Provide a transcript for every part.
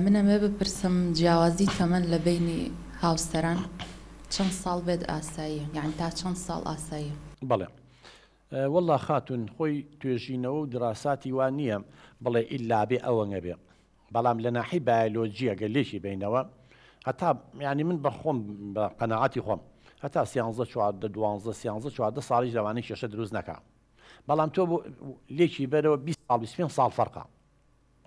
من ئەمەوێ بپرسم جیاوازی تەمەن لە بەینی هاوسەران چەند ساڵ بێت ئاساییە؟ یانی تا چەند ساڵ ئاساییە؟ بەڵێ وەڵڵا خاتوون خۆی توێژینەوە و دراساتی وا نییە بڵێ ئیلابێ ئەوەنە بێ بەڵام لە ناحەی بایەلۆجی ئەگەر لێکی بەینەوە هەتا یانی من بە خۆم بە قەناعەتی خۆم هەتا سیانزە چواردە دوانزە سیانزە چواردە ساڵیش لەوانەی کێشە دروست نەکا بەڵام تۆ لێکی بەرەوە بیست ساڵ بیست پێنج ساڵ فەرقە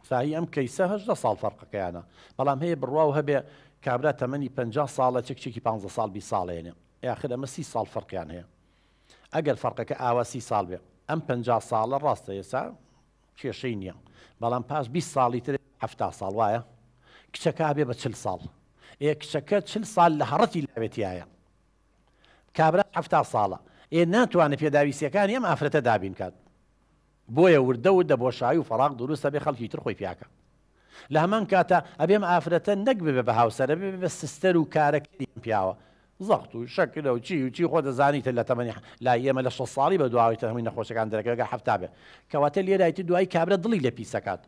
ساهی ئەم کەیسە هەژدە ساڵ فەرقەکەیانە بەڵام هەیە بڕواو هەبێ کابرا تەمەنی پەنجا ساڵە چ کچێکی پانزە ساڵ بیست ساڵ هێنێ یاخر ئەمە سی ساڵ فەرقیان هەیە ئەگەر فەرقەکە ئاوا سی ساڵ بێ ئەم پەنجا ساڵە ڕاستە ئێستا کێشەی نییە بەڵام پاش بیست ساڵی تر هەفتا ساڵ وایە کچەکە بێ بە چل ساڵ ئێ کچەکە چل ساڵ لە هەڕەتی لاوێتیایە کابرا هەفتا ساڵە ئێ ناتوانێت پێداویستیەکانی ئەم ئافرەتە دابین کات بۆیە وردە وردە بۆشایی و فەراغ دروست ئەبێ خەڵکی تر خۆی پیاکا لە هەمان کاتا ئەبێ ئەم ئافرەتە نەک ببێ بە هاوسەر ئەبێ ببێ بە سستەر و کارەکەری ئەم پیاوە زەخت و شەکرە و چی و چی خۆ دەزانی تر لە تەمەنی لای ئێمە لە شەست ساڵی بەدواوەی تر هەمووی نەخۆشەکان دەرەکەوێ گەر حەفتا بێ کەواتە لێرای تر دوایی کابرا دڵی لێ پیس ئەکات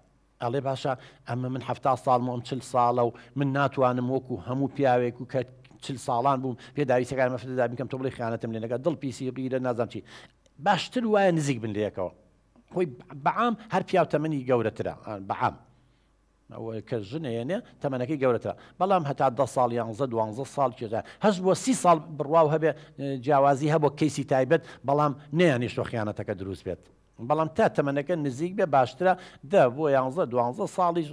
ئەڵێ باشە ئەمە من حەفتا ساڵمە و ئەم چل ساڵە و من ناتوانم وەکو هەموو پیاوێک و کە چل ساڵان بووم پێ داویستەکان مەفردا بکەم تۆ بڵێ خیانەتم لێ نەکە دڵ پیسی و غیرە نازانم چی باشتر وایە نزیک بن لەیەکەوە خۆی بەعام هەر پیاو تەمەنی گەورەترە بەعام ئەوەی کە ژنێنێ تەمەنەکەی گەورەترە بەڵام هەتا ده ساڵ یانزە دوانزە ساڵ کێژە هەش بۆ سی ساڵ بڕواو هەبێ جیاوازی هەبوو کەیسی تایبەت بەڵام نیان نیشتۆ خیانەتەکە دروست بێت بەڵام تا تەمەنەکە نزیک بێ باشترە دە بۆ یانزە دوانزە ساڵیش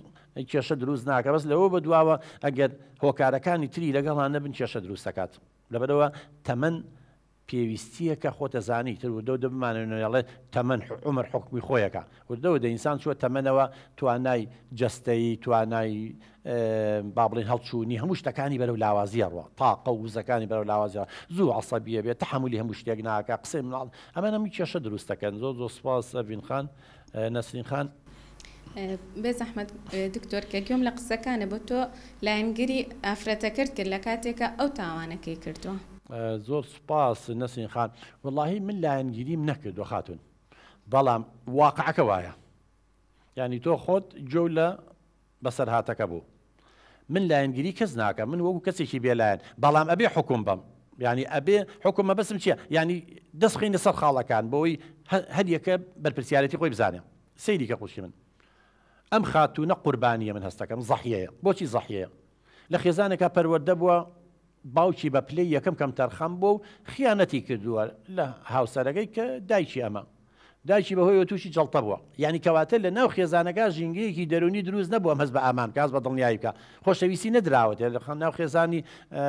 کێشە دروست ناکە بەس لەوە بە دواوە ئەگەر هۆکارەکانی تری لەگەڵان نەبن کێشە دروستەکات لەبەرەوە تەمەن پێویستیەکە خۆتە زانی تر و دەو دەبمانەوێڵێ تەمەەن عمر حکمی خۆیەکە وردەوە دە ئینسان چوە تەمەەوە توانای جستەیی توانای با بڵێین هەڵچوونی هەموو شتەکانی بەرەو لاوازی ئەڕوا تاقە و وزەکانی بەرەو لاوازی زوو عسەبیە بێت تحملی هەموو شتێک ناکە قسەی مناڵ ئەمە هەموو کێشە دروستەکەن زۆر زۆر سپاس ئەڤین خان نەسرین خان بێ زەحمەت دکتۆر کە گوێم لە قسەکانە بۆ تۆ لایەنگری ئافرەتەکرد کرد لە کاتێکە ئەو تاوانەکەی کردووە زۆر سپاس نەسرین خان وڵی من لایەنگیریم نەکردو خاتون بەڵام واقعەکە وایە ینی تۆ خۆت جۆ لە بەسەرهاتەکە بوو من لایەنگیری کەس ناکەم من وەکو کەسێکی بێ لایەن بەڵام ئەبێ حوکم بەم یانی ئەبێ حوکم مەبەستم چیە یانی دەست خینە سەر خاڵەکان بۆی هەریەکە بەرپرسیارەتی خۆی بزانێ سەیری کە قوشی من ئەم خاتوونە قوربانیە من هەستەکەم زەحیەیە بۆچی زەحیەیە لە خێزانێکا پەروەردە بووە باوکی بە پلەی یەکەم کەمتەرخەم بووە و خیانەتی کردووە لە هاوسەرەکەی کە دایکی ئەمە دایکی بە هۆیەوە تووشی جەڵتە بووە یانی کەواتە لە ناو خێزانەکە ژینگەیەکی دەرونی دروست نەبوو ئەم هەست بە ئامان بکە هەست بە دڵنیایی بکە خۆشەویستی نەدراوەتێ لە خان ناو خێزانی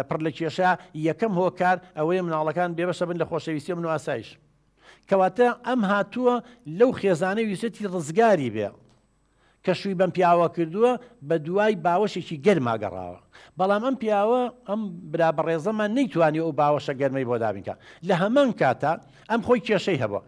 پڕ لە کێشە یەکەم هۆکار ئەوەیە مناڵەکان بێبەشە بن لە خۆشەویستی و من و ئاسایش کەواتە ئەم هاتووە لەو خێزانەی ویستێتی ڕزگاری بێ کە شووی بەم پیاوە کردووە بە دوای باوەشێکی گەرما گەڕاوە بەڵام ئەم پیاوە ئەم برا بەڕێزەمان نەیتوانی ئەو باوەشە گەرمەی بۆ دابین کات لە هەمان کاتا ئەم خۆی کێشەی هەبووە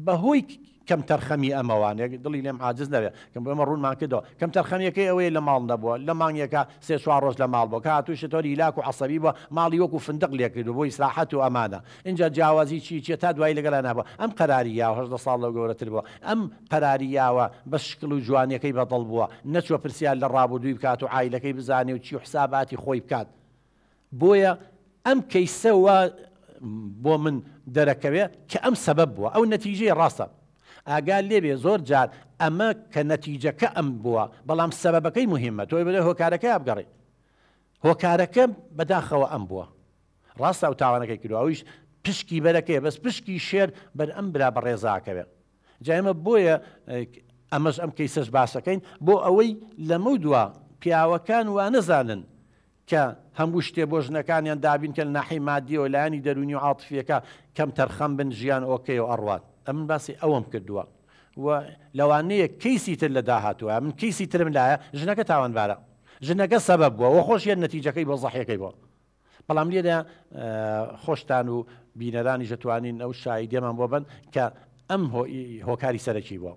بە هۆی کەم تەرخەمی ئەمەوانێک دڵی لێم عاجز نەبێت کەم ئەمە ڕوونمان کردەوە کەم تەرخەمیەکەی ئەوەیە لە ماڵ نەبووە لە مانگێکە سێ چوار ڕۆژ لە ماڵ بۆ کە هاتووی شتۆری هیلاک و عەسەبی بووە ماڵی وەکو فندق لێ کردو بۆ ئیسراحەت و ئەمانە ئینجا جیاوازی چی چیە تا دوایی لەگەڵا نابووە ئەم قەراری یاوە هەژدە ساڵ لەو گەورەتر بووە ئەم پەراریاوە بەس شکل و جوانیەکەی بەدڵ بووە نەچووە پرسیار لە ڕابوردووی بکات و عایلەکەی بزانێ و چی و حساباتی خۆی بکات بۆیە ئەم کەیسە وا بۆ من دەرەکەوێ کە ئەم سەبەب بووە ئەو نەتیجەی ڕاستە ئاگات لێبێ زۆر جار ئەمە کە نەتیجەکە ئەم بووە بەڵام سەبەبەکەی موهیمە تۆی بەدەر هۆکارەکەی ئابگەڕێ هۆکارەکە بەداخەوە ئەم بووە ڕاستە ئەو تاوانەکەی کردوە ئەویش پشکی بەرەکەی بەس پشکی شێر بەر ئەم برا بەڕێزاکەوێ. جا ئێمە بۆیە ئەمەش ئەم کەیسەش باسەکەین بۆ ئەوەی لەمەو دوا پیاوەکان وانەزانن کە هەموو شتێ بۆ ژنەکانیان دابین کە ناحی مادیەوە لایانی دەرونی و عاتفیەکە کەم تەرخەم بن ژیان ئۆکەی و ئەڕوات ئەمن باسی ئەوەم کردووە و لەوانەیە کەیسی تر لە داهاتوە من کەیسی ترم لایە ژنەکە تاوانبارە ژنەکە سەبەب بووە وە خۆشیان نەتیجەکەی بۆ زەحیەکەی بۆ بەڵام لێرە خۆشتان و بینەرانیش دەتوانین ئەو شاییدیەمان بۆ بەن کە ئەم هۆکاری سەرەکی بووە.